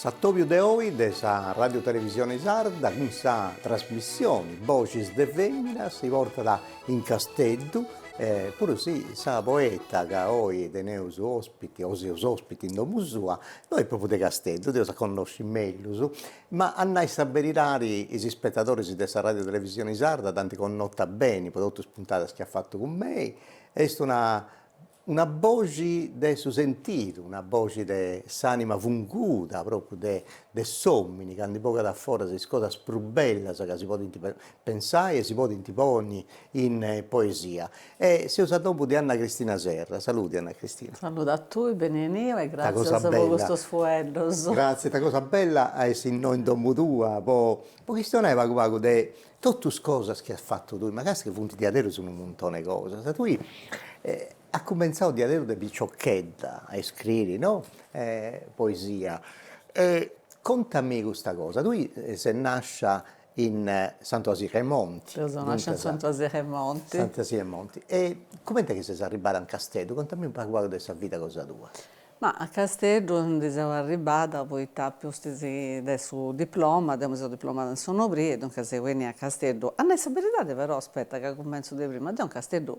S'atòbiu de oi de sa Radiotelevisione Sarda cun sa trasmissione Boxis de Fèmina si portat in Casteddu puru si sa poeta ca oi teneus ospiti o seus ospiti in domu sua no est pròpriu de Casteddu, dd'eus a connosci mellus Ma a nai sa beridadi is ispetadoris de sa Radiotelevisioni Sarda dd'ant connota beni po totu is puntadas chi at fatu cun mei, est una una boxi de su sentidu, una boxi de s'anima funguda propriu de de s'omini candu bogat a foras is cosas prus bellas ca si podint pensai e si podint ponni in poesia. E seus a domu de Anna Cristina Serra. Salude Anna Cristina. Salude a tui, beneniu e gràtzias po custus fueddus. Gràtzias, sa cosa bella a essi innoi in domo tua po po chistionai pagu pagu de totu is cosas chi as fatu tui, ma càstia chi funt diaderus unu muntoni 'e cosas. Tui as cumenzau diaderus de piciochedda a iscriri no poesia e contami custa cosa, tui ses nàscia In Santu 'Asili 'e Monti. Deu seu nàscia in Santu 'Asili 'e Monti. Santu 'Asili 'e Monti. E comenti est chi ses arribbada in Casteddu? Contami unu pagu pagu de sa vida cosa tua. Ma a Casteddu ndi seu arribbada poita a pustis de su diploma, deu mi seu diplomada in Senorbì e duncas seu 'ennia a Casteddu. A nai sa beridadi però, aspetta ca cumentzu de prima, deu in Casteddu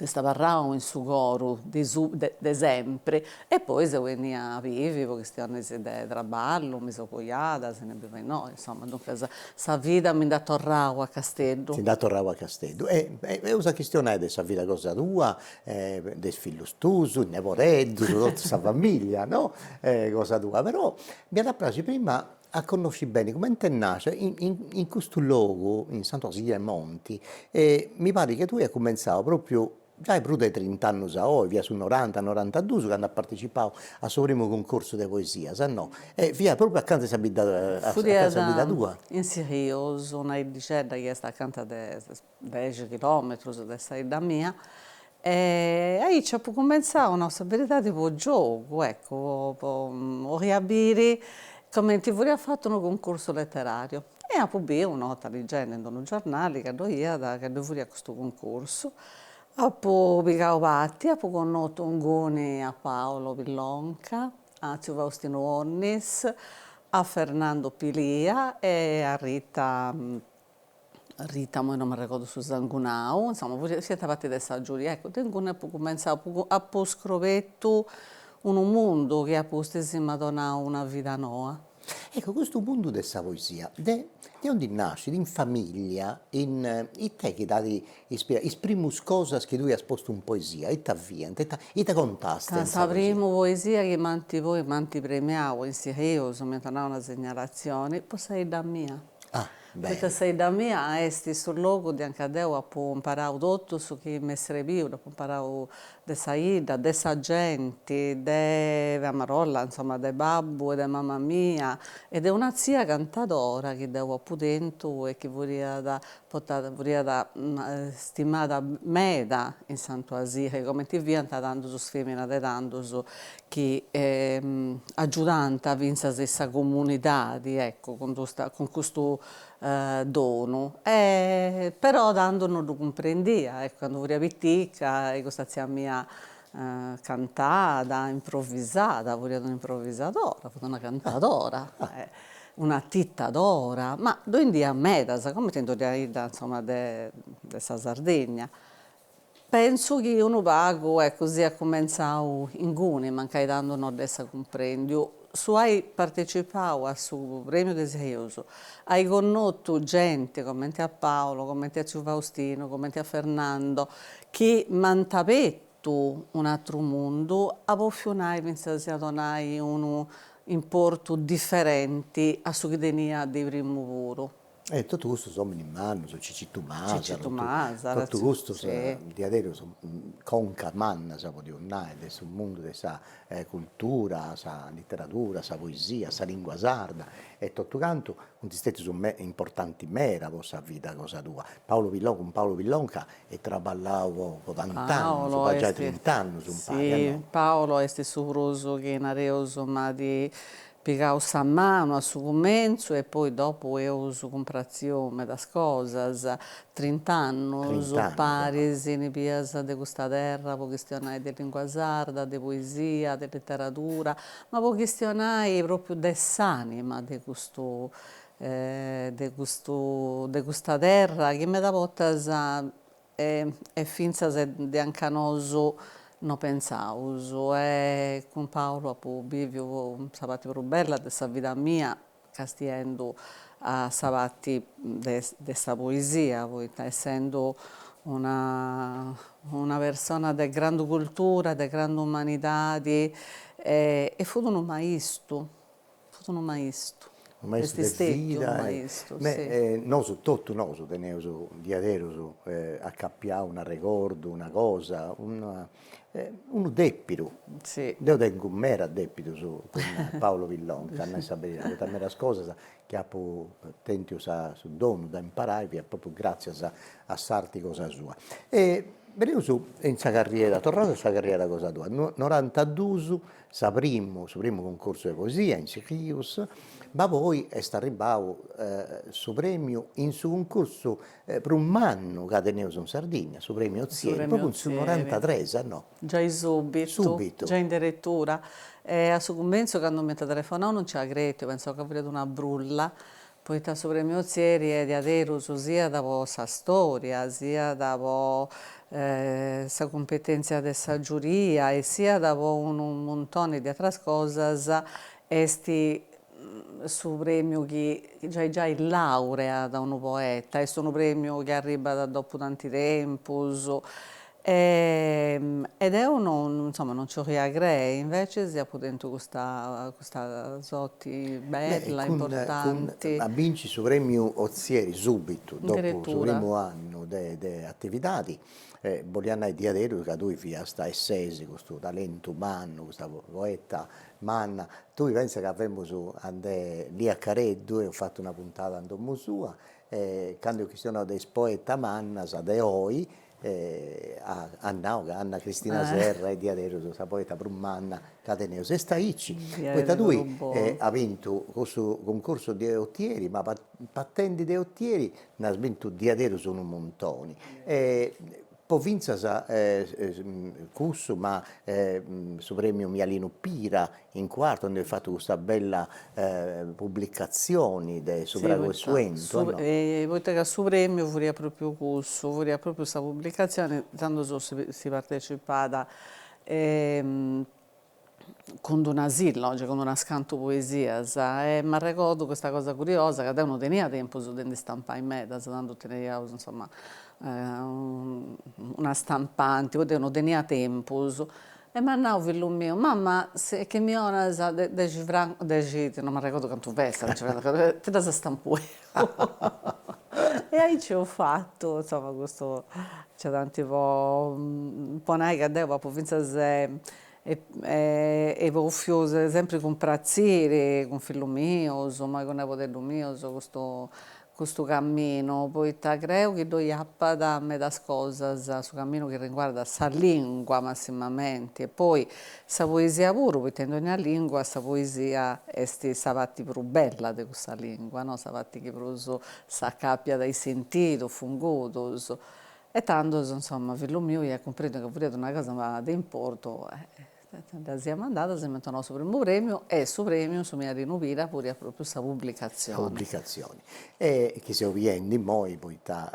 est abarrau in su coru de de sempri e poi seu bennia a bivi po chistiones de traballu, mi seu coiada, si no bivo innoi, insomma, duncas sa vida mi nd'at torradu a Casteddu. Ti nd'at torradu a Casteddu e e eus a chistionai de sa vida cosa tua e de is fillus tuus, is nebodeddus, totu sa familia, no, cosa tua, però m'iat a praxiri prima a connosci beni comenti nascit in custu logu in Santu 'Asili 'e Monti e mi parit chi tui as cumentzau propriu giai prus de trint'annos a oi, fiat su noranta norantaduus candu as partecipau a su primu cuncorsu de poesias no? e fiat propriu acanta 'e sa bidda tua. Fut in Silius una 'iddixedda chi est acanta de dexi chilòmetrus de sa 'idda mia e aici apu cumentzau, nau sa beridadi, po giogu, eccu, 'oria biri comenti furiat fatu unu cuncursu leterariu e apu biu una 'orta ligendi in unu giornali ca ddoi iat, ca ddoi furiat custu cuncursu, apu pigau parti, apu connotu inguni a Paolo Pillonca, a tziu Faustinu Onnis, a Fernando Pilia e a Rita Rita, Imoi no m'arregordu su sangunau, insoma, fiant parti de sa giuria. Eccu, deu inguni apu cumentzau, apu scrobetu unu mundu chi a pustis m'at donau una vida noa. Ecco, custu mundu de sa poesia, de de ondi nascit, in familia, in ite chi t'at ispirau, is primus cosas chi tui as postu in poesia, ita fiant, ita ita contast in sa poesia? Sa primu poesia chi m'ant poi m'ant premiau in Seui, m'iant donau una segnalazioni, po sa 'idda mia. Poita sa 'idda mia est su logu de anca deu apu imparau totu su chi m'est srebiu, dd'apu imparau de sa 'idda, de sa genti, de a marolla, insoma, de babbu e de mama mia e de una tzia cantadora chi deu apu tentu e chi furiat portada furiat stimada meda in Santu 'Asili, cumenti fiant tandus is feminas de tandus chi agiudant fintzas in sa comunidadi ecco cun custa cun custu donu e però tandu non ddu cumprendia ecco candu furia pitica e custa tzia mia cantat improvisat furiat un'improvisadora fut una cantadora e una atitadora ma ddoe ndi iat medas comente in dogna 'idda insomma de sa Sardigna Pentzu chi unu pagu, eccu, siat cumentzau inguni, mancai tandu no dd'essa cumprendiu. Su ai partecipau a su premiu de Seui, ai connotu genti comenti a Paolo, comenti a tziu Faustinu, comenti a Fernando, chi m'ant abertu un'atru mundu, a bofiu nai fintzas a donai unu importu diferenti a su chi tenia de primu puru. E totu custus ominis mannus, Cicitu Masala, totu custus diaderus concas mannas podius nai de su mundu de sa cultura, sa literadura, sa poesia, sa lingua sarda e totu cantu funt stetius importanti meda po sa vida cosa tua. Paolo Pillonca, cun Paolo Pillonca eis traballau po po tant'annus, po giai trint'annus impari a no. Paolo est su prus chi nareus m'at Pigau sa manu a su cumentzu e poi dopu eus cumpratziu medas cosas, trint'annus paris in bias de custa terra po chistionai de lingua sarda, de poesia, de literadura, ma po chistionai propriu de s'anima de custu de custu de custa terra chi meda bortas e fintzas de anca nosu no pentzaus e cun Paolo apu biviu sa parti prus bella de sa vida mia castiendu a sa parti de de sa poesia poita essendu una una persona de grandu cultura de grandu umanidadi e fut unu maistu Fut unu maistu. Unu maistu de vida. Est stetiu unu maistu, si. Ma nosu, totu nosu teneus diaderus acapiau un'arregordu, una cosa, una unu depidu. Si. Deu tengu meras depidus cun Paolo Pillonca, a nai sa beridadi, poita meras cosas chi apu tentiu sa su donu de imparai fiat propriu gratzias a s'arti cosa sua. E beneus in sa carriera, torraus a sa carriera cosa tua, no norantaduus Sa primu, su primu cuncorsu 'e poesia in Sichìus, ma poi est arribbadu su prèmiu in su cuncorsu prus mannu ca teneus in Sardigna, su prèmiu Ozieri, propriu in su norantatres, no? Giai subitu, giai in deretura, e a su cumentzu candu m'ant telefonau non nci apu cretiu, pentzau ca furiat una brulla, Poita su Premiu Ozieri est diaderus siat po sa storia, siat po sa cumpetèntzia de sa giuria e siat po unu muntoni de atras cosas, est su premiu chi giai giai laureat unu poeta, est unu premiu chi arribbat dopu tanti tempus E e deu non insoma non nci 'oria crei, invece apu tentu custa custa sorti bella, importanti. A binci su premiu Ozieri subitu dopu su primu annu de de atividadi, bolliat nai diaderus ca tui fiast e ses custu talentu mannu, custa poeta manna, tui pensa ca femus ande Lia Careddu, eus fatu una puntada in domu sua e candu est chistionau de is poeta mannas de oi, E at nau ca Anna Cristina Serra est diaderus sa poeta prus manna ca teneus, est aici, poita tui as bintu cussu cuncursu de otieri, ma partendi de otieri nd'as bintu diaderus unu muntoni, e poi fintzas cussu ma su premiu Mialinu Pira in Quartu nd'est fatu custa bella pubblicatzioni de su Fragu 'e su 'entu a no? Poita ca su premiu furiat pròpriu cussu, furiat pròpriu sa pubblicatzioni, tando so si si partecipat cun d'una silloge, cun d'unas cantu poesias e m'arregordu custa cosa curiosa ca deu no tenia tempus de ndi stampai medas, tando teneiaus insoma una stampanti, poi deu no tenia tempus E m'at nau, fillu miu, mama, e chi mi 'onas dexi francos, dexi, non m'arregordu cantu fessat, nci fessat cantu fessat, ti ddas stampu deu. E aici eus fatu, insoma, custu nc'est tanti po po nai ca deu apu fintzas e poi fia sempri cun pratzìri cun fillus mius, mai cun nebodeddus mius, custu custu caminu, poita creu chi ddoi apat medas cosas, su caminu chi riguardat sa lìngua massimamenti, e poi sa poesia puru, poita in dònnia lìngua sa poesia est sa parti prus bella de cussa lìngua, no, sa parti chi prus s'acàpiat a is sentidus fungudos, e tandus, insoma, fillu miu iat cumprèndiu ca furiat una cosa de importu e Dda siat mandada, si m'ant donau su primu prèmiu e su prèmiu, su Mialinu Pira, furiat pròpriu sa publicatzioni. Sa publicatzioni. E chi seu biendi immoi, poita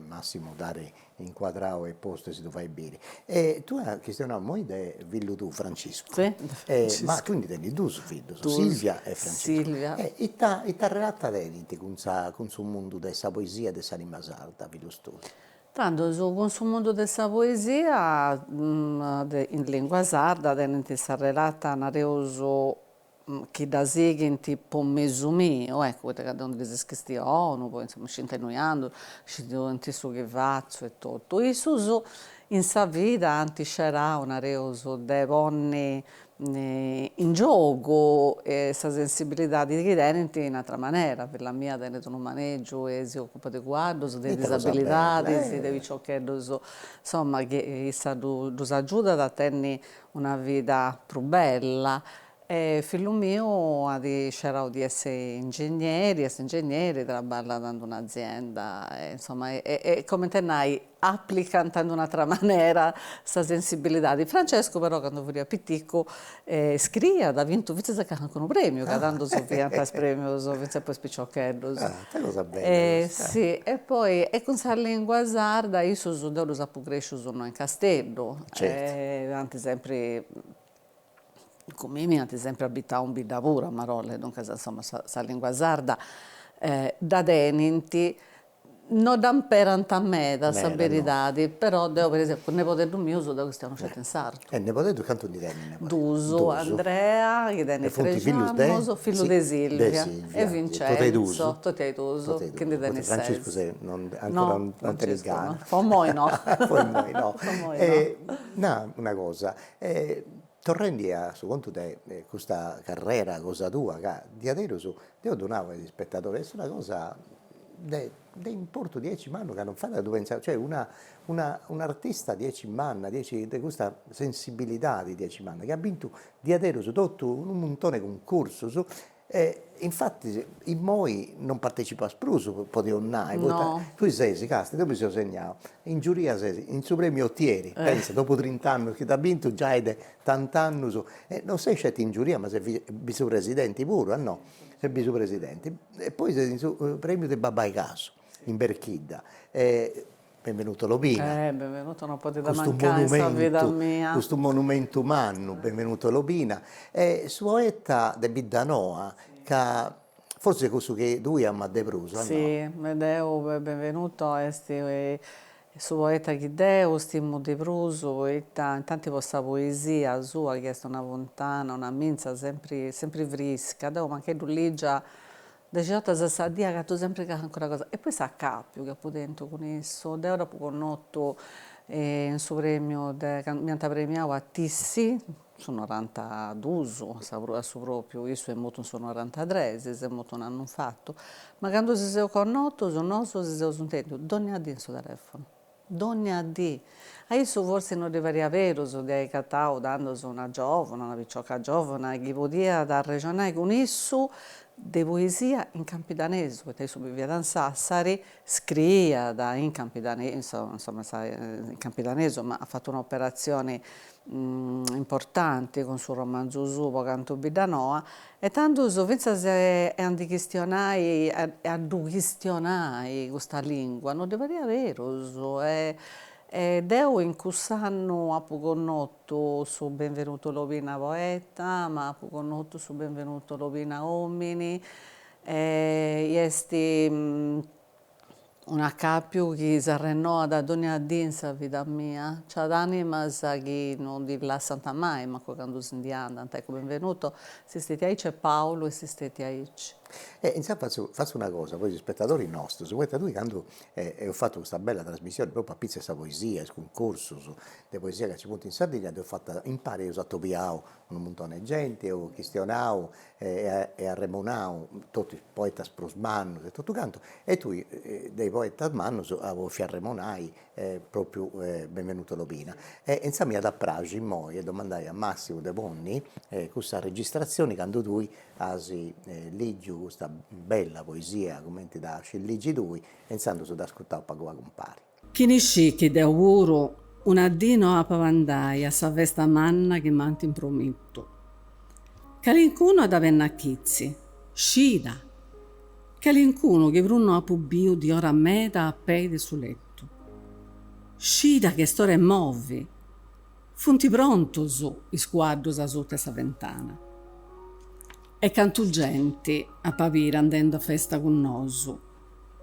Massimu dd'at incuadrau e postu e si ddu fatzu biri. E tue as chistionau immoi de fillu tuu, Franciscu. Si, de Franciscu. Ma tue ndi tenis duus fillus, Silvia e Franciscu. Duus, Silvia. E ita, ita relata tenint cun sa, cun su mundu de sa poesia e de sa limba sarda fillus tuus? Tandus cun su mundu de sa poesia de in lìngua sarda tenent sa relata, nareus, chi dda sighint po mesu miu, eccu, poita ca deu ndi ddis chistionu, poi insoma scint innui andu, scint su chi fatzu e totu. Issus in sa vida ant scerau, nareus, de ponni in giogu e sa sensibilidadi chi tenint in àtera manera, filla mia tenit unu maneggiu e si occupat de cuaddus, de disabilidadis, de piciocheddus, insomma chi issa ddus agiudat a tenni una vida prus bella e fillu miu at scerau de essi ingegneri, est ingegneri, traballat in una azienda e insomma e coment'e nai aplicant ind un'àtera manera sa sensibilidadi. Francescu però candu furiat piticu scriiat at bintu fintzas calincunu premiu ca tandus si fiant is premius fintzas po is piciocheddus. Ah ita cosa bella custa. Si e poi e cun sa lingua sarda issus deu ddus apu crescius no in Casteddu e ant sempri Cun mimi ant sempre abitadu in bidda puru a Marolles, duncas insomma sa sa lingua sarda dda tenint, no dda imperant meda sa beridadi, però deo per esempiu cun nepodeddus mius deu chistionu sceti in sardu. E nepodeddus cantu ndi tenis? Duus, Andrea chi tenit trexi annus, fillu de Silvia, e Vincenzo, totei duus, chi ndi tenit ses. Franciscu ancora non tenit gana. Po imoi no. Po imoi no. E no una cosa E torrendi a su contu de custa carrera cosa tua ca diaderus deo ddu nau a is ispetadores est una cosa de de importu diaici mannu ca non fait a ddu pensai, cioè una una un'artista diaici manna, diaici de custa sensibilidadi diaici manna chi at bintu diaderus totu unu muntone de cuncursus E infatis immoi non partecipas prus, podimus nai, poita tui ses casta, deu mi ddu seu segnau, in giuria ses in su premiu Otieri, pensa, dopu trint'annus chi t'at bintu giai de tant'annus, e non ses sceti in giuria ma ses vizupresidenti puru, a no, ses vizupresidenti, e poi ses in su premiu de Babbai Casu in Berchidda e Benvenuto Lobina. Eh Benvenuto non podit mancai in sa vida mia. Custu monumentu mannu, Benvenuto Lobina. Est su poeta de Biddanoa ca forsis est cussu chi tui amas de prus o no? Sì, po deu Benvenuto est su poeta chi deu stimu de prus poita intanti po sa poesia sua chi est una funtana, una mitza sempri sempri frisca. Deu mancai ddu lìgia Dexi ortas a sa dì agatu sempri calincuna cosa e poi s'acàpiu chi apu tentu cun issu, deu dd'apu connotu in su premiu de candu m'iant premiau a Tissi, su norantaduus, a su propriu, issu est mortu in su norantatres, s'est mortu s'annu infatu, ma candu si seus connotus nosu si seus intendius dònnia dì in su telefonu. Dònnia dì. A issu forsis no ddi pariat berus de ai agatau tandus una giòvuna, una picioca giòvuna, chi podiat arrexonai cun issu de poesia in campidanesu, poita issu biviat in Sàssari, scriiat in campidanesu, insoma, in campidanesu, ma at fatu un'operatzioni importanti cun su romanzu suu Po cantu Biddanoa e tandus fintzas a ndi chistionai e a ddu chistionai custa lingua no ddi pariat berus e e deu in cuss'annu apu connotu su Benvenuto Lobina poeta ma apu connotu su Benvenuto Lobina omini e est Un'acàpiu chi s'arrennoat a dònnia dì in sa vida mia. Nci at ànimas chi non ti lassant mai, mancu candu si ndi andant, eccu, Benvenuto est istètiu aici e Paulu est istètiu aici. E intzandus fatzu fatzu una cosa po is ispetadoris nostus, poita tui candu eus fatu custa bella trasmissioni propriu apitzus 'e sa poesia, is cuncursus de poesia ca nci funt in Sardigna, dd'eus fata impari, eus atobiau Unu muntoni 'e genti eus chistionau e arremunau, totu is poetas prus mannus e totu cantu, e tui de is poetas mannus as bòfiu arremunai propriu Benvenuto Lobina. E intzà m'iat a praxi immoi 'e domandai a Massimu de ponni cussa registrazioni candu tui as lìgiu custa bella poesia cumenti dda scis ligi tui e intzandus dd'ascutaus pagu pagu impari. Chini scit chi deu puru una dì no apa a bandai a sa festa manna chi m'ant impromitu. Calincunu at a benni a chitzi, scida! Calincunu chi prus no apu biu di ora meda a pei de su letu, scida chi est ora 'e movi! Funt prontus is cuaddus asuta 'e sa fentana. E cantu genti ap'a biri andendu a festa cun nosu!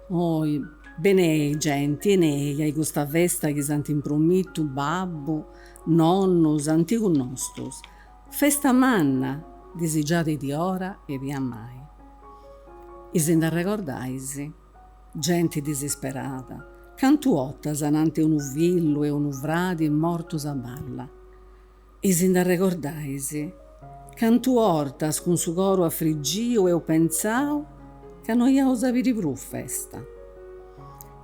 Oi, benei genti, 'enei a custa festa chi s'ant impromitu babbu, nonnu, s'antigus nostus. Festa manna, disigiada di ora e di amai. E si nd'arregordais? Genti disisperada, cantu 'otas ananti 'e unu fillu e unu fradi mortus a balla. E si nd'arregordais cantu 'ortas cun su coru afrigiu eus pentzau ca no iaus a biri prus festa.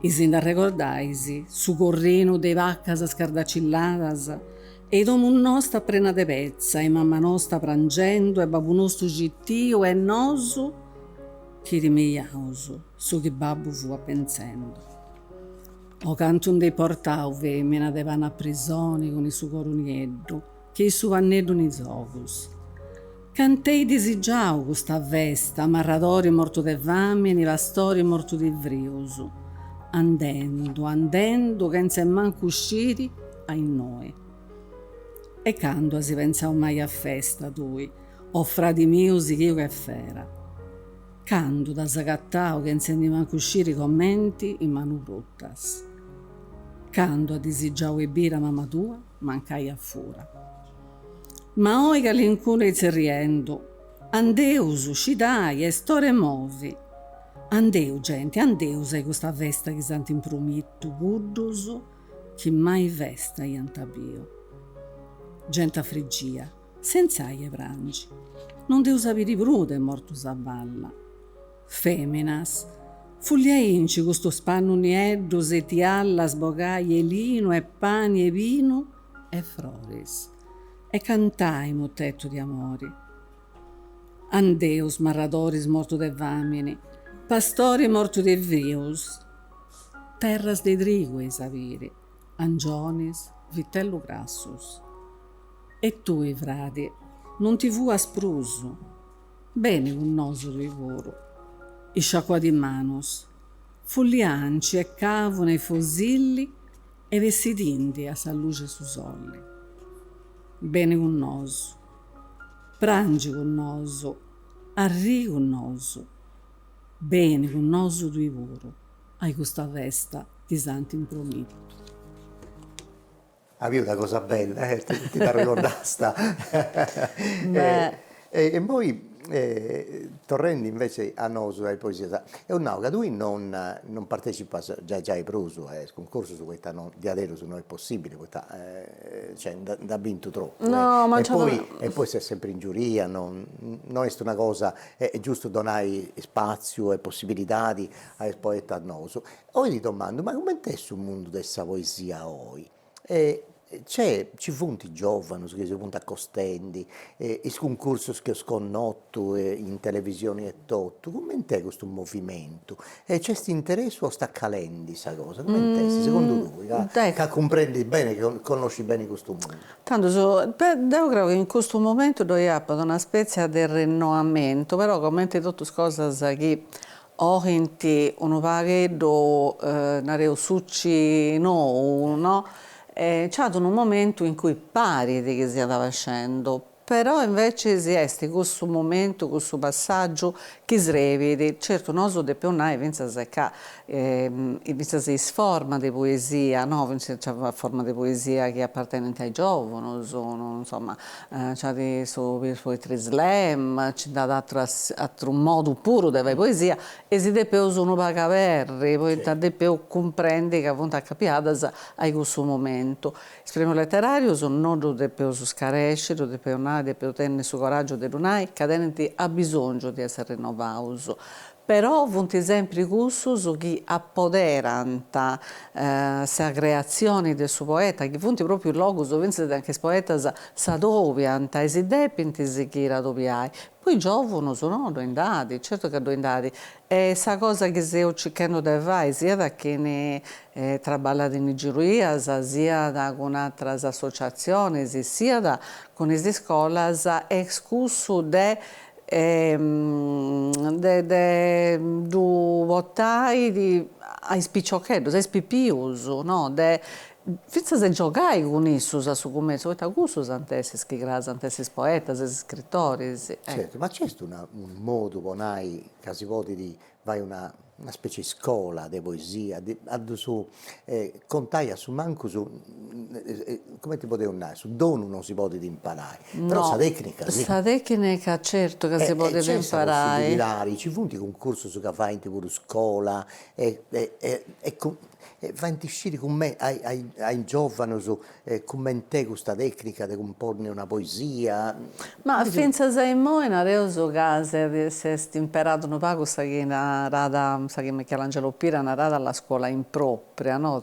E si nd'arregordais su corrinu de bacas scardaccilladas e i domu nosta prena de petza e mama nosta prangendu e babbu nostu citiu e nosu chi timeiaus su chi babbu fuat pentzendu. O cantu nd'eis portau femina de pani a prisoni cun i su coru nieddu che i su panneddu in is ogus. Cant'eis disigiau custa festa marradori mortu de famini, pastori mortu di frius. Andendu, andendu chentz''e mancu sciri a innoi. E candu as pentzau mai a festa tui, o fradi miu sighìu che fera. Candu t'as agatau chentza de mancu sciri comenti is manus brutas. Candu as disigiau 'e biri a mama tua mancai a fura. Ma oi calincunu est tzerriendu, andeus, scidai, est ora 'e movi. Andeus, genti, andeus a 'i custa festa chi s'ant impromitu cuddus chi mai festa iant biu. Gent'afrigia. Sensai 'e prangi. No nd'eus a biri prus de mortus a balla. Feminas. Fulliainci custus pannus nieddus e tiallas bogai 'e linu e pani e binu e froris e cantai mutetus de amori. Andeus marradoris mortu de famini, pastori mortu de frius, terras de trigu eis a biri. Angionis, vitellus grassus. E tui, fradi, non ti fuas prus. Beni cun nosu tui puru. Isciacuadì is manus, fullianci e cavuna e fosili e bessidindi a sa luxi 'e su soli. Beni cun nosu. Prangi cun nosu. Arrii cun nosu. Beni cun nosu tui puru. Ai custa festa ti s'ant impromidu. Aviu una cosa bella eh, ti nd'arregordasta. Beh. E poi torrendi invece a nosu e a is poesia, eus nau ca tui non non partecipas giai giai prus a is cuncursus poita non diaderus no est possibili poita cioè nd'as bintu tropu. No ma nci. E poi e poi ses sempri in giuria, no no est una cosa, est giustu donai spaziu e possibilidadi a is poetas nous. Oi ti domandu, ma cumenti est su mundu de sa poesia oi? Nc'est, nci funt giovanus chi si funt acostendi, is cuncursus chi eus connotu in televisioni etotu, cumenti est custu movimentu? E nc'est interessu o est acalendi sa cosa? Cumenti est segundu tui, ca cumprendis beni, connoscis beni custu mundu? Tandus, beh, deu creu chi in custu momentu ddoi apat una spètzia de renoamentu, però cumenti totu is cosas chi bogint unu pagheddu, nareus, suci nou, no? E nc'at unu momentu in cui parit chi siat abaxendu, però inveciis est cussu momentu, cussu passàgiu chi srebit, certu nosu depeus nai fintzas ca fintzas is formas de poesia, no, fintzas nci at formas de poesia chi apartenint a is giòvunus, insoma Nci at su Poetry Slam, nci nd'at ateru, ateru modu puru de fai poesia e si depeus unu pagu aberri poita depeus cumprendi ca funt acapiadas a-i cussu momentu. Is Premius Leterarius no ddus depeus scaresci, ddu depeus nai, depeus tenni su coraggiu de ddu nai ca tenint abisongiu de essi rinovaus. Però funt sempri cussus chi apoderant sa creatzioni de su poeta, chi funt pròpiu logus fintzas anca is poetas s'adobiant e si depint sighiri a adobiai. Po is giòvunus no ddoi nd'at, certu ca ddoi nd'at, e sa cosa chi seu circhendu de fai, siat a chini traballat in is giurías, siat cun atras associatzionis, siat cun is iscolas, est cussu de de ddu portai a is piciocheddus, a is pipius, no, de fintzas de giogai cun issus a su cumentzu, poita cussus ant a essi is chi cras ant a essi is poetas, is scritoris. Certu, ma nc'est una unu modu po nai ca si podit fai una una specie 'e scola de poesia de a ddu su contai a su mancu su comenti podeus nai, su donu non si podit imparai, però sa tecnica si. Sa tecnica certu ca si podit imparai. E nc'est sa possibilidadi, nci funt cuncursus ca faint puru scola e e e faint sciri cumenti a is giovanus E cument'est custa tècnica de cumponni una poesia? Ma fintzas a immoi nareus ca s'est imperada unu pagu sa chi narada, sa chi Michelangelo Pira narada la scuola impròpria, no,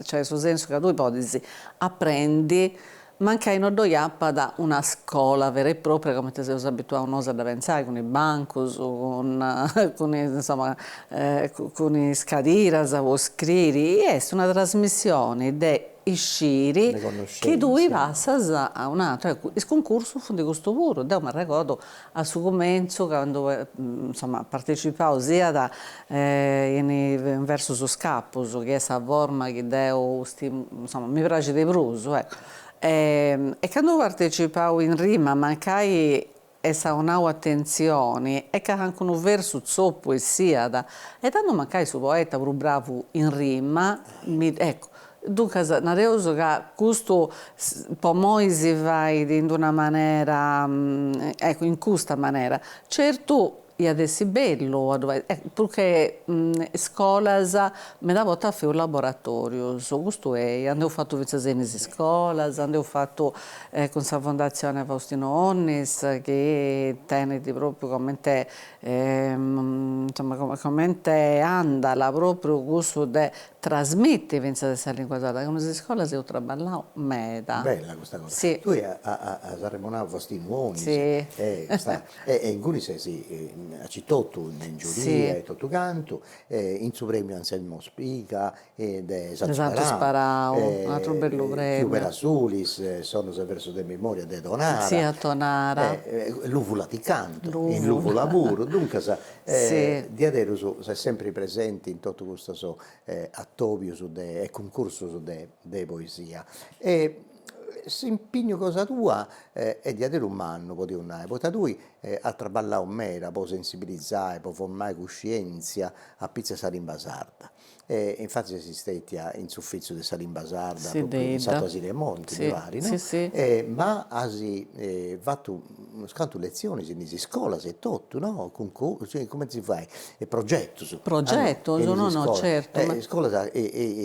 cioè su sensu ca tui podis aprendi mancai no ddoi apat una scola vera e pròpria comente seus abituaus nosu a dda pentzai cun is bancus, cun is, insoma, cun is cadiras po scriri, est una trasmissioni de isciri chi tui passas a un'atru, eccu is cuncursus funt custu puru, deu m'arregordu a su cumentzu candu insoma partecipau siat in versus iscapus chi est sa forma chi deu insoma mi praxit de prus eccu e candu partecipau in rima mancai essa 'onau atentzioni e cancunu versu tzopu essiat, e tandu mancai su poeta prus bravu in rima, mi, eccu, duncas nareus ca custu po moi si fait in d'una manera, eccu, in custa manera, certu Iat essi bellu a ddu fai. E prus che iscolas meda bortas feus laboratorius, custu ei, a nd'eus fatu fintzas in is iscolas, nd'eus fatu cun sa Fondatzione Faustino Onnis chi tenit propriu comente insoma comente andala propriu cussu de trasmiti fintzas in sa lingua sarda, cun is iscolas eus traballau meda. Bella custa cosa. Si. Tui as arremonau Faustinu Onnis. Si. E e ingunis ses aici totu in giuria e totu cantu e in su premiu Anselmo Spiga e de Santu Sparau, de Santu Sparau un'atru bellu premiu, Chiu Pera Sulis, sonus e versus de memoria de Tonara, si a Tonara, e Luvula ti cantu in Luvula puru, duncas diaderus ses sempri presenti in totu custus atobius de e cuncursus de poesia e S'impignu cosa tua est diaderus mannu, podius nai, poita tui as traballau meda po sensibilizai, po formai cuscientzia apitzus de sa limba sarda. Infattis ses stetia in s'uffitziu de sa limba sarda in Santu 'Asili 'e Monti mi parit no? Ma as fatu unus cantu letzionis in is iscolas etotu no? Cumenti si fait E progetus. Progetus, no no certu. E iscolas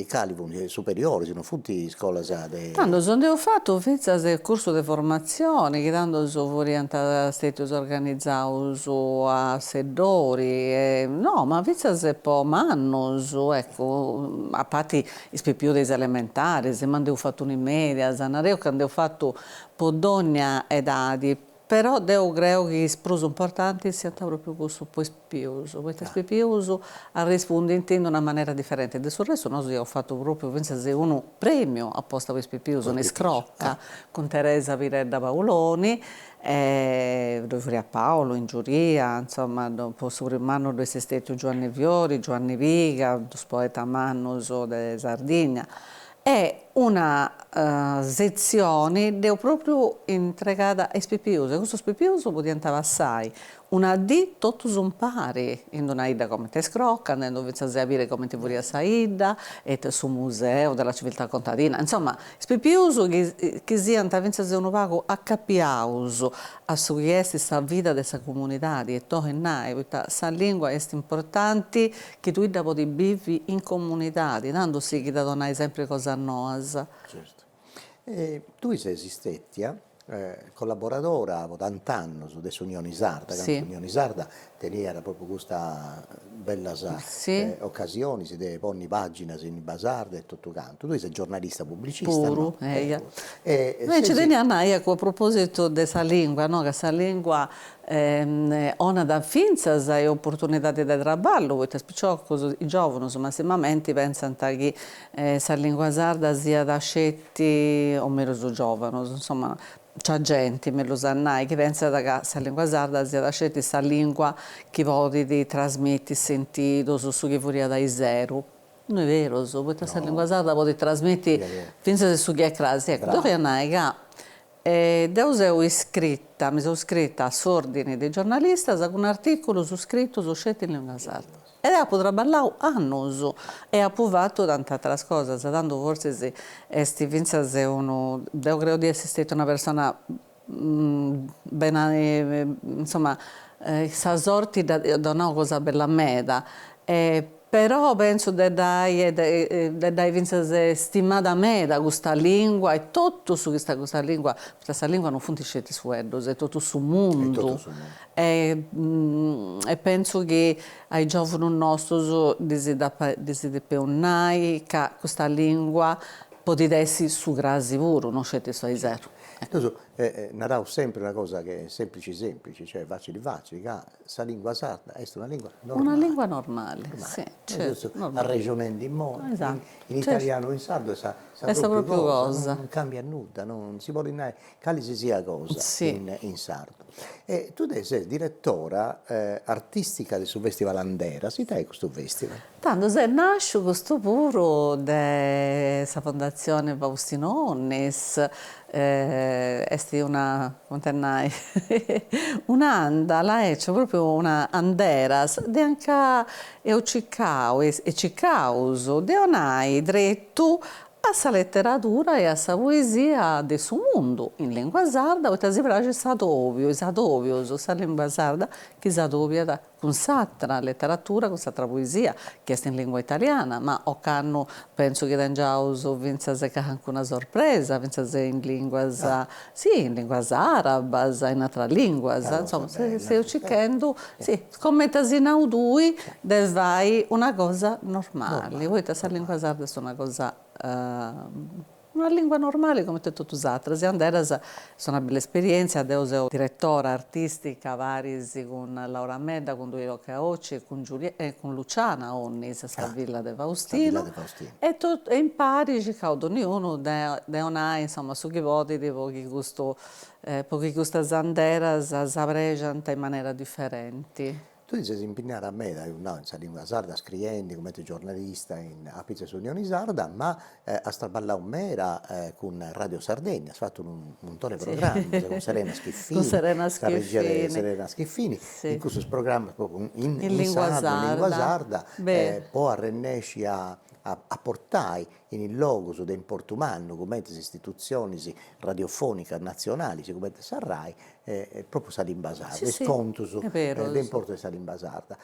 cali funt? Superioris, non funt iscolas de. Tandus a nd'eus fatu fintzas cursus de formatzione chi tandus furiant stetius organizaus a Seddori e no ma fintzas po mannus eccu a parti is pipius de is elementaris ma nd'eus fatu unu in medias, nareus ca nd'eus fatu po dogna edadi. Però deu creu chi prus importanti siant pròpriu cussus po is pipius, poita is pipius arrespundint in una manera diferenti. De su restu nosu iaus fatu pròpriu fintzas unu prèmiu aposta po is pipius in Iscroca, cun Teresa Piredda Paoloni, e ddoi furiat Paolo in giuria, insoma, po su primu annu ddoi est stètiu Giuanni Fiori, Giuanni Piga, dus poetas mannus de Sardigna, E una setzioni deu pròpriu intregada a is pipius, e custus pipius podiant passai una dì totus impari in una 'idda comente est Iscroca, andendu fintzas a biri comente furiat sa 'idda, e su museu de la civiltà contadina, insoma, is pipius chi siant fintzas unu pagu acapiaus a su chi est sa vida de sa comunidadi, e torru a nai, poita sa lìngua est importanti Chi tui dda podis bivi in comunidadi, tando sighit a donai sempri cosas noas. Certu. Tui ses istetia collaboradora po tant'annus de s'Unioni Sarda, candu s'Unioni Sarda teniat propriu custas bellas ocasionis de ponni paginas in limba sarda e totu cantu. Tui ses giornalista pubblicista, no? Puru, eia. E nci tenia a nai, eccu, a propositu de sa lingua, no, ca sa lingua Onat fintzas oportunidadi de traballu, poita is piciocus, is giòvunus massimamenti, pentzant chi sa lìngua sarda siat sceti, o mellus is giòvunus, insoma, nc'at genti, mellus a nai, chi pentzat ca sa lìngua sarda siat sceti sa lìngua chi podit trasmiti sentidus, su chi furiat ariseru. No est berus, poita sa lìngua sarda podit trasmiti fintzas su chi est crasi. Eccu, deu 'olia nai ca E deu seu iscrita, mi seu iscrita a s'Òrdini de giornalistas cun artìculus scritus sceti in lìngua sarda. E apu traballau annus e apu fatu tant'àteras cosas, tando fortzis est fintzas unu, deu creu di essi stetia una persona beni, insoma, sa sorti at donau cosa bella meda Però pentzu de dd'ai fintzas stimada meda custa lìngua e totu su chi est custa lìngua, poita sa lìngua non funt sceti is fueddus, est totu su mundu, e pentzu chi a is giòvunus nostus ddis depeus nai ca custa lìngua podit essi su crasi puru, non sceti su aiseru. Nosu naraus sempri una cosa chi est semplici semplici, cioè facili facili ca Sa lìngua sarda est una lìngua normale. Una lìngua normale, si, certu, normale. Arrexonendi immoi, in italianu o in sardu est sa pròpriu cosa, non càmbiat nudda, non si podit nai cali si siat cosa in sardu. E tui ses diretora artìstica de su fèstival Anderas, ita est custu fèstival? Tandu s'est nàsciu custu puru de sa Fondatzione Faustino Onnis, est una, comente a nai, un'àndala, ecu, pròpriu una anderas, de anca eus cicau e cicaus de onai tretu a sa leteradura e a sa poesia de su mundu in lìngua sarda, poita si praxit s'adòbiu, is adòbius, sa lìngua sarda chi s'adòbiat cun s'atra leteratura, cun s'atra poesia, chi est in lìngua italiana, ma ocannu pentzu chi tengiaus fintzas calincuna sorpresa, fintzas in lìnguas, si, in lìnguas àrabas, in atras lìnguas, insoma, seus circhendu, si, comenti as nau tui, de fai una cosa normale, poita sa lìngua sarda est una cosa Una lìngua normale comente totu is atras, e Anderas est una bella esperièntzia, deu seu diretora artìstica paris cun Laura Medda, cun Duilio Caocci e cun e cun Luciana Onnis sa filla de Faustino e e impari circaus donniunu de de 'onai insoma su chi podit po chi custu po chi custas anderas s'abèrgiant in manera diferenti. Tui ti ses impinniada meda, apu nau, in sa lìngua sarda, scriendi cumenti giornalista apitzus 'e s'Unioni Sarda, ma as traballau meda cun Radio Sardegna, as fatu unu muntoni de programmas cun Serena Schiffini, sa regia de Serena Schiffini, in cussus programmas propriu in sardu, in lìngua sarda, po arrennesci a portai in logus de importu mannu cumenti is istitutzionis radiofònicas natzionalis cumenti sa Rai e pròpriu sa limba sarda, is contus de importu de sa limba sarda.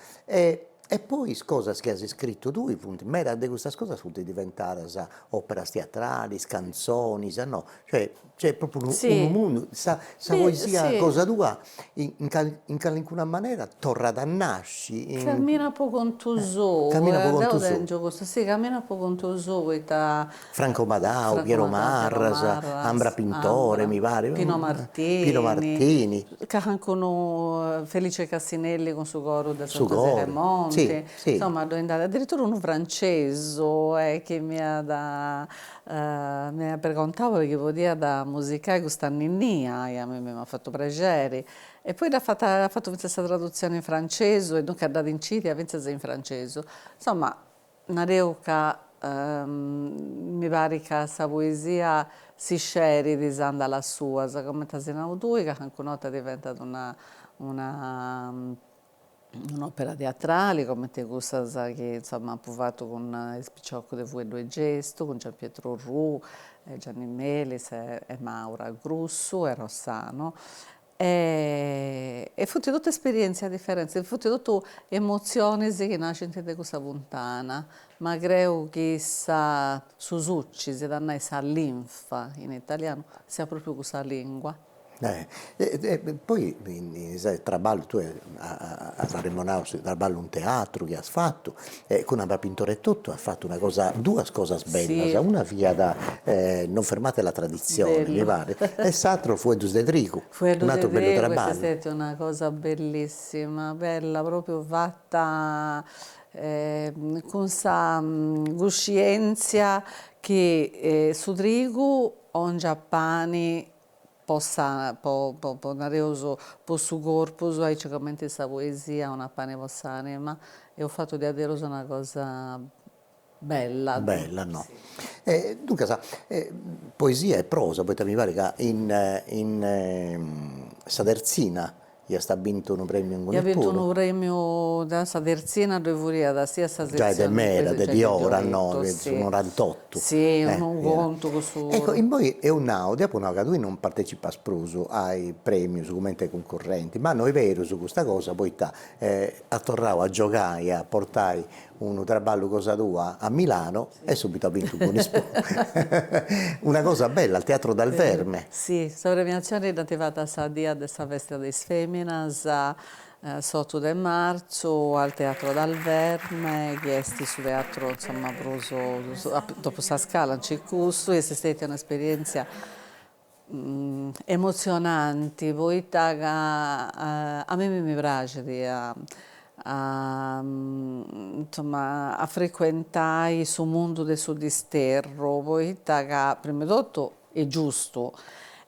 E poi is cosas chi as iscritu tui funt, medas de custas cosas funt diventadas òperas tiatralis, cantzonis, no, cioè Cioè propriu unu unu mundu, sa sa poesia cosa tua in in calincuna manera torrat a nasci in. Camminat po contu sou, deu tèngio custa, si camminat po contu sou poita. Franco Madau, Piero Marras, Ambra Pintore mi parit, Pino Martini, Pino Martini, calincunu, Felice Cassinelli cun su coru de Santa Aleni 'e Monti, insomma ddoe nd'at, addirittura unu francesu chi m'iat M'iat pregontau chi podiat musicai custa ninnia, e a mimmi m'at fatu prexeri, e poi dd'at fata, at fatu fintzas sa tradutzioni in francesu, e duncas dd'at incidia fintzas in francesu, insomma, nareu ca mi parit ca sa poesia si scerit is andalas suas, coment'as nau tui, ca calincun'orta diventat una una un'òpera teatrale comente cussas chi insomma apo fatu cun is piciocus de Fueddu e Gestu, cun Gianpietro Orrù, Gianni Melis e Maura Grussu e Rossano e funt totu esperièntzias diferentis, funt totu emotzionis chi naschint de cussa funtana, ma creu chi sa su suci, s'iat a nai sa linfa in italianu, siat pròpriu cussa lìngua. poi su traballu tui as arremonau su traballu in teatru chi as fatu e cun Anna Pintore e totu as fatu una cosa duas cosas bellas, una fiat non fermate la tradizione mi paret e s'atteru Fueddus de trigu, un'atteru bellu traballu. Fueddus de trigu est stètia una cosa bellissima, bella propriu fata cun sa cuscienzia chi su trigu 'ongiat pani po sa po po po nareus po su corpus aici comente in sa poesia unu pani po s'anima eus fattu diaderus una cosa bella bella no e duncas poesia e prosa poita mi parit ca in in sa terzina Iast a bintu unu premiu inguni puru. Ia bintu unu premiu de sa tertzina ddoi furiat sia sa setzioni. Giai de meda, de diora, no, su norantottu. Si, cun unu contu cussu. Ecco, innoi eus nau, deu apu nau ca tui non partecipas prus ai premius cumenti cuncurrenti, ma no est berus custa cosa poita as torrau a giogai e a portai unu traballu cosa tua a Milano e subitu as bintu Buonispo una cosa bella al Teatro Dal Verme. Si, sa premiatzioni dd'ant fata sa die de sa festa de is feminas, s'otu de martzu, al Teatro Dal Verme, chi est su teatru insoma prus, dopu sa Scala nci est cussu, est stetia un'esperientzia emotzionanti poita ca a mimi mi praxit a insomma a frecuentai su mundu de su disterru poita ca prima 'e totu est giustu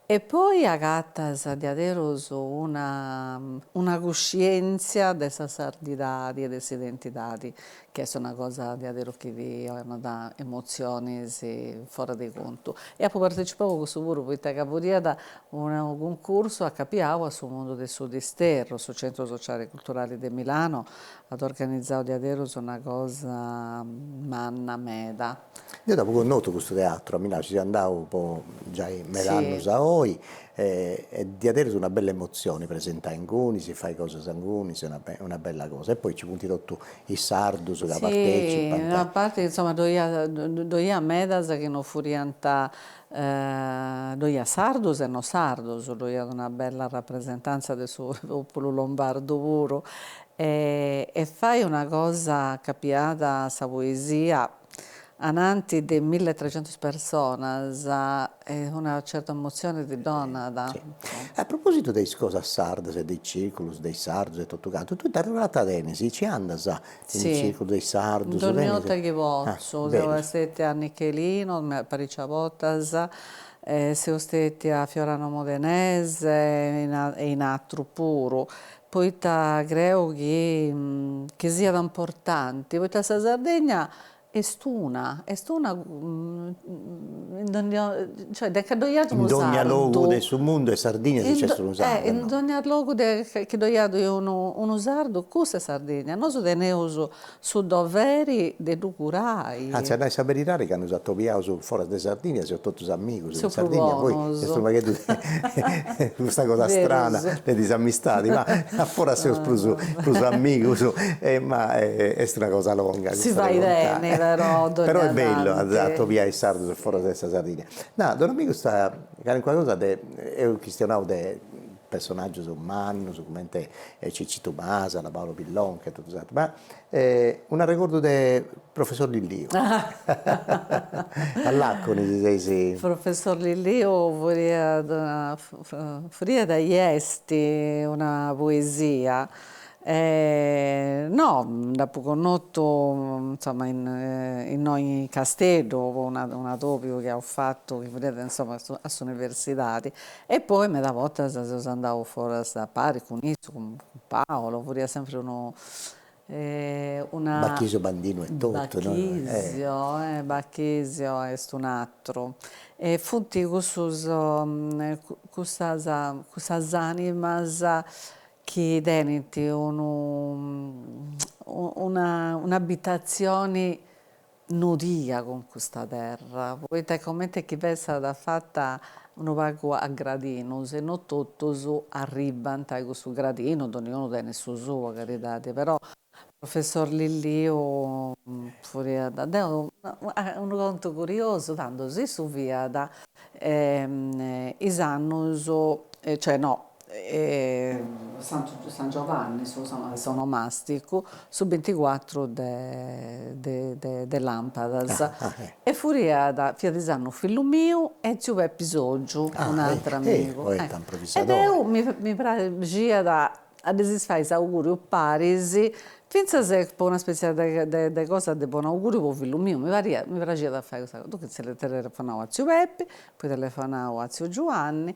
e poi agatas diaderus una una cuscientzia de sa sardidadi e de s'identidadi chi est una cosa deaderus chi ti 'onat emotzionis foras de contu e apu partecipau a cussu puru poita ca furiat unu cuncursu acapiau a su mundu de su Disterru, su Centro Sociale e Culturale de Milano at organizau diaderus una cosa manna meda. Deo dd'apo connotu custu teatru, a Milanu, ci seu andadu po giai med'annus a oi e diat essi una bella emotzioni presentai inguni, si fai cosas inguni, si est una bella cosa, e poi nci funt totu is sardus ca partecipant. Si, a parti chi insoma ddoi iat ddoi iat medas chi non furiant ddoi iat sardus e non sardus, ddoi iat una bella rapresentanza de su populu lombardu puru E fai una cosa ca pigat sa poesia ananti de mille e trecentos personas una certa emozione ti donat. A propositu de is cosas sardas e de is circulus de is sardus e totu cantu, tui raportus tenis, nci andas in is circulus de is sardus? Dogni 'orta chi potzu, seu stetia a Nichelino paricia bortas, seu stetia a Fiorano Modenese e in atrus puru, poita creu chi chi siat importanti, poita sa Sardegna est una, est una in dogni cioè de ca ddoi at unu sardu, in dogna logu de su mundu est Sardigna si nc'est unu sardu, in dogna logu de chi ddoi at unu sardu cussa est Sardigna, nosu teneus Su doveri de ddu curai. Anzi, a nai sa beridadi, candu s'atobiaus foras de Sardigna, seus totus amigus in Sardigna, poi est unu pagheddu de custa cosa strana de disamistadi, ma a foras seus prus prus amigus, ma est una cosa longa custa de contai, però est bellu a atobiai is sardus a foras de sa Sardigna. Nau, domandu custa calincuna cosa de, eus chistionau de personaggios mannos comente Cicitu Masala, Paolo Pillonca e totu s'atteru, ma un'arregordu de professor Lilliu, all'Acconi ti seis. Professor Lilliu furiat furiat e est una poesia e no nd'apo connotu insomma innoi Casteddu po unu atobiu chi apo fatu chi furiat insomma a s'universidadi E poi meda bortas seus andaus foras a pari cun issu, cun Paolo, furiat sempri unu una Bachisio Bandinu e totu no Bachisio eh Bachisio est un'atru e funt cussus cussas cussas animas chi tenint unu un'abitazioni Nodia cun custa terra, poita comente chi fessat fata unu pagu a gradinus e no totus arribbant a cussu gradinu, doniunu tenit su sua calidadi, però professor Lilliu furiat, teniu unu contu curiosu, tando s'issu fiat is annus, cioè no, San Giuanni s'onomasticu su binticuatru de lampadas e furiat fiat is annus fillu miu e tziu Pepi Soggiu un'ateru amigu e deu mi praxiat a ddis fai s'auguriu paris fintzas po una spezia de cosa de bonu auguriu po fillu miu mi pariat mi praxiat a fai custa cosa duncas telefonau a tziu Pepi poi telefonau a tziu Giuanni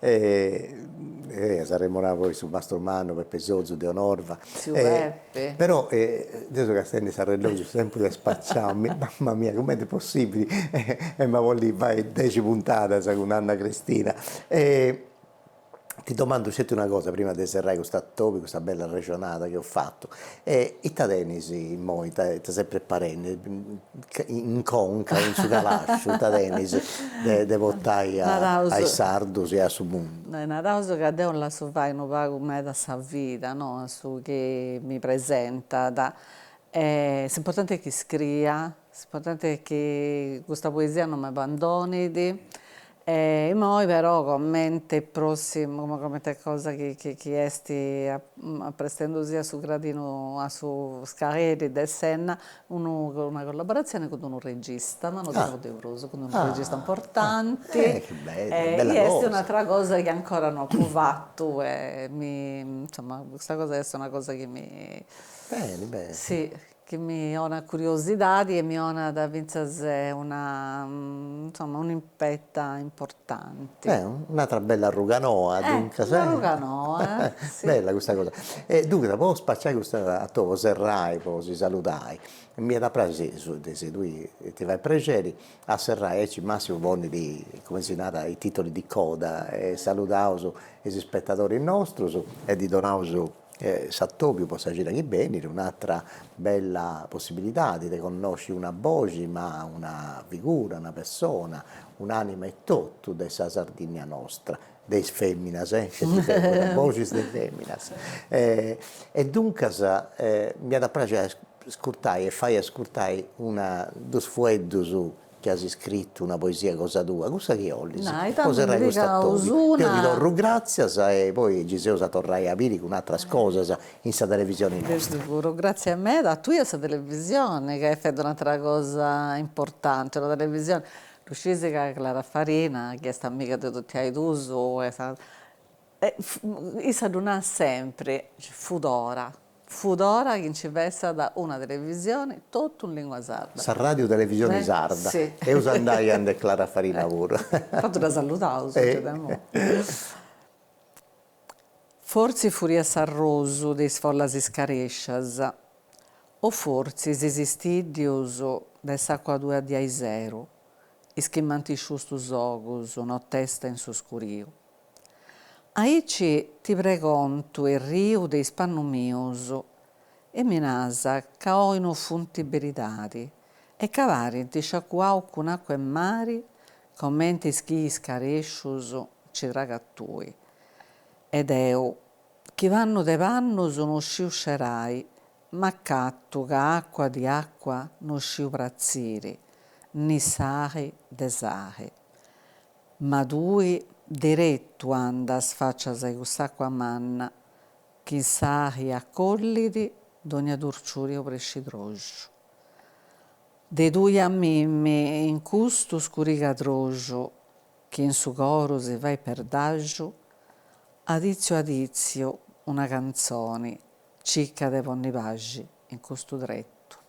e s'arremorava poi su mastru mannu Peppe Sozu de Bonorva però deo seu castiendi s'arrellogiu su tempus est spaciau mamma mia cumenti est possibili e ma bolli fai dexi puntadas cun Anna Cristina e ti domandu sceti una cosa prima de serrai cust'atòbiu custa bella arrexonada chi eus fatu e ita tenis immoi ita ita ses preparendi in conca in su calasciu ita tenis de portai a is sardus e a su mundu. Naraus ca deu lassu fai unu pagu meda a sa vida no a su chi mi presentat e s'importanti est chi scriia, s'importanti est chi custa poesia non m'abandonit E immoi però comente prossimu, comente comente cosa chi chi chi est apprestendosi a su gradinu a su scaleri de s'enna unu una collaboratzione cun d'unu regista, ma no ti nau de prus, cun d'unu regista importanti e chi est un'atra cosa chi ancora no apo fatu e mi insomma custa cosa est una cosa chi mi si chi mi 'onat curiosidadi e mi 'onat fintzas una insomma un'impetta importanti. Eh un'atra bella arruga noa duncas. Eh un'arruga noa si. Bella custa cosa. E duncas po spaciai custu atòbiu po serrai po si saludai mi iat a praxi si tui ti fait prexeri a serrai aici Massimu ponit cumenti si narat is titoli di coda e saludaus is ispetadoris nostrus e ddis donaus s'atobiu po sa cida chi benit un'atra bella possibilidadi de connosci una boxi ma una figura, una persona, un'anima etotu de sa Sardinnia nostra, de is feminas cument'est sempri, boxis de feminas e duncas m'iat a praxi a ascurtai e fai ascurtai una dus fueddus chi as iscritu una poesia cosa tua, cussa chi bolis, po serrai cust'atòbiu, deu ti torru gràtzias e poi gei s'eus a torrai a biri cun atras cosas in sa televisioni nostra. De seguru, gràtzias meda a tui e a sa televisioni ca at fatu un'atra cosa importanti, una televisioni, ddu sciis ca Clara Farina chi est amiga de totu e is duus e issa ddu narat sempri, fudora, Fut ora chi nci fessat una televisioni totu in lingua sarda. Sa ràdiu televisioni sarda. Si. Eus andai a nde Clara Farina puru. Tantu dda saludaus gei de imoi. Fortzis furiat s'arrosu de is follas iscarèscias, o fortzis is istìddius de s'àcua tua de ariseru, is chi m'ant isciustu s'ogus notesta in su scuriu. Aici ti pregontu erriu de is pannus mius e mi nas ca oi no funti beridadi e ca parint sciacuaus cun acua 'e mari comenti is chi iscarescius nci tragas tui e deu chi pannu de pannus no sciu scerai m'acatu ca acua di acua no sciu pratziri ni sali de sali Ma tui deretu andas facias a-i cuss'acua manna chi in sali acollit dogna turciuriu prexadroxu. De tui a mimi in custu scurigadroxu chi in su coru si fait perdaxu, aditziu aditziu una cantzoni cicca de ponni paxi in custu tretu.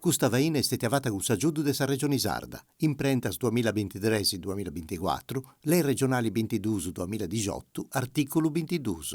Custa faina est stètia fata cun s'agiudu de sa Regioni Sarda, imprentas duamilla bintitres-duamilla binticuatru, Lei Regionali bintiduus-duamilla dixotu, artìculu bintiduus.